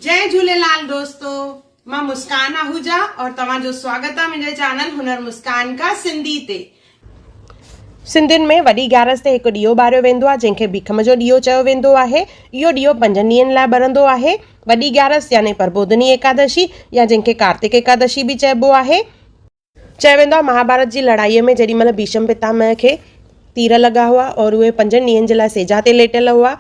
جي جهوليلال دوستو مان مسڪان آهوجا اور توهان جو سواگت آ منهنجي چينل هنر مسڪان کا سنڌي تي. سنڌين ۾ وڏي گيارس تي هڪ ڏيئو ٻاريو ويندو آهي جنهن کي ڀيکم جو ڏيئو چيو ويندو آهي. اهو ڏيئو پنجن ڏينهن لاء ٻرندو آهي. وڏي گيارس يعني پربوڌني ايڪادشي يا جنهن کي ڪارتڪ ايڪادشي به چئبو آهي. چيو ويندو آهي مهاڀارت جي لڙائيء ۾ جيڏي مهل ڀيشم پتامه کي تير لڳا هئا اور اهي پنجن ڏينهن جي لاء سيجا تي ليٽيل هئا،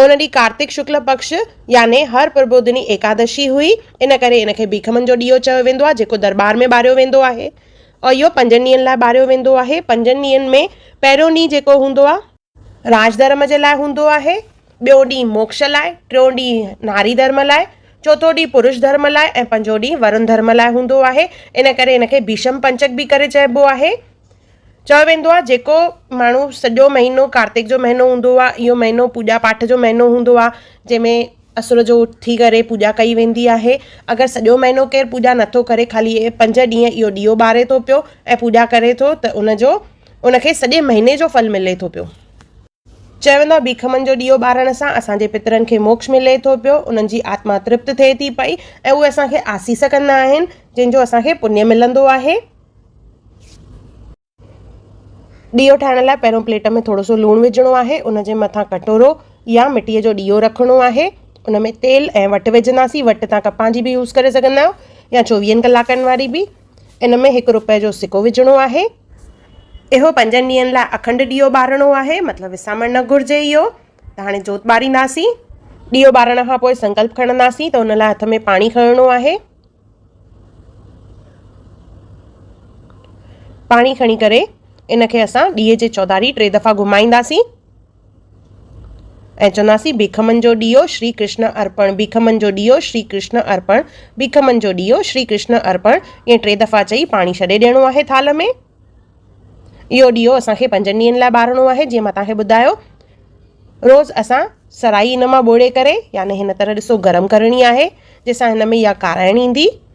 ان ڏينهن ڪارتڪ شڪل پڪش يعني هر پربوڌني ايڪادشي هئي، ان ڪري ان کي ڀيکمن جو ڏيئو چيو ويندو آهي، جيڪو درٻار ۾ ٻاريو ويندو آهي اور اهو پنجن ڏينهن لاء ٻاريو ويندو آهي، پنجن ڏينهن ۾ پهريون ڏينهن جيڪو هوندو آهي. راج ڌرم جي لاء هوندو آهي، ٻيو ڏينهن موڪش لاء، ٽيون ڏينهن ناري ڌرم لاء، چوٿون ڏينهن پروش ڌرم لاء ۽ پنجون ڏينهن ورن ڌرم لاء هوندو آهي. ان ڪري هن کي ڀيشم پنچڪ به ڪري چئبو آهي. چيو ويندو آهي جيڪو ماڻهو سڄو مهينو ڪارتڪ جو مهينو هوندو آهي اهو مهينو پوڄا پاٺ جو مهينو هوندو آهي جنهن ۾ اسور جو اٿي ڪري پوڄا ڪئي ويندي آهي اگر سڄو مهينو ڪير پوڄا نٿو ڪري خالي اهي پنج ڏينهن اهو ڏيئو ٻاري ٿو پيو ۽ پوڄا ڪري ٿو ته ان جو ان کي سڄي مهيني جو ڦل ملي ٿو پيو. چون ٿا ڀيکمن جو ڏيئو ٻارڻ سان اسان جي پترن کي موڪش ملي ٿو پيو، انهن جي آتما ترپت ٿئي ٿي پئي ۽ اهي اسان کي آسيس ڪندا آهن، جنهن جو اسان کي پڃ ملندو آهي. ڏيئو ٺاهڻ لاء پهريون پليٽ ۾ ٿورو سو لوڻ وجهڻو آهي، ان جي مٿان ڪٽورو يا مٽيء جو ڏيئو رکڻو آهي، ان ۾ تيل ۽ وٽ وجهنداسين، وٽ تان ڪپهه جي به يوز ڪري سگهندا آهيو يا چوويهن ڪلاڪن واري به. ان ۾ هڪ روپئي جو سڪو وجهڻو آهي. اهو پنجن ڏينهن لاء اکنڊ ڏيئو ٻارڻو آهي مطلب وسامڻ نه گهرجي اهو ته هاڻي جوت ٻارينداسين. ڏيئو ٻارڻ کان پوء سنڪلپ کڻنداسين ته ان لاء هٿ ۾ پاڻي کڻڻو آهي. پاڻي کڻي ڪري ان کي اسان ڏيئي جي چوڌاري ٽي دفعا گهمائينداسين. ۽ چونداسين ڀيکمن جو ڏيئو شري ڪرشن ارپڻ، ڀيکمن جو ڏيئو شري ڪرشن ارپڻ، ڀيکمن جو ڏيئو شري ڪرشن ارپڻ ائين ٽي دفعا چئي پاڻي ڇڏي ڏيڻو آهي ٿالهه ۾. اهو ڏيئو اسان کي پنجن ڏينهن لاء ٻارڻو آهي جيئن مان توهان کي ٻڌايو. روز اسان سرائي ان مان ٻوڙي ڪري يعني هن طرح ڏسو گرم ڪرڻي آهي جنهن سان هن ۾ اها ڪارائڻ ايندي.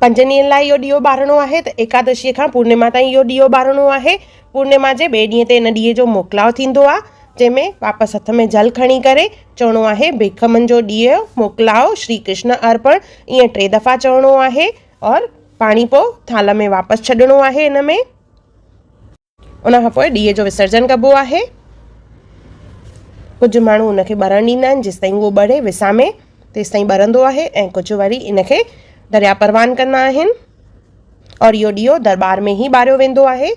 پنجن ڏينهن لاء اهو ڏيئو ٻارڻو آهي ته ايڪادشيء کان پورنيما تائين اهو ڏيئو ٻارڻو آهي. پورنيما جي ٻئي ڏينهن تي ان ڏيئي جو موڪلاء ٿيندو آهي، جنهن ۾ واپس هٿ ۾ جل کڻي ڪري چوڻو آهي، ڀيک منهنجو ڏيئو موڪلاء شري ڪرشن ارپڻ ائين ٽي دفعا چوڻو آهي اور پاڻي پوء ٿالهه ۾ واپس ڇڏڻو آهي ان ۾. ان کان پوء ڏيئي جو وسرجن ڪبو آهي. ڪجهه ماڻهو ان کي ٻرڻ ڏيندا آهن جيستائين اهو ٻري وسامي تيستائين ٻرندو آهي ۽ ڪجهه وري ان کي درياء پروان ڪندا آهن اور اهو ڏيئو درٻار ۾ ئي ٻاريو ويندو آهي.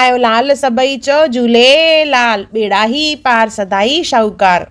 آيو لال سڀئي چئو جهوليلال ٻيڙا هي پار سدائي شاهوڪار.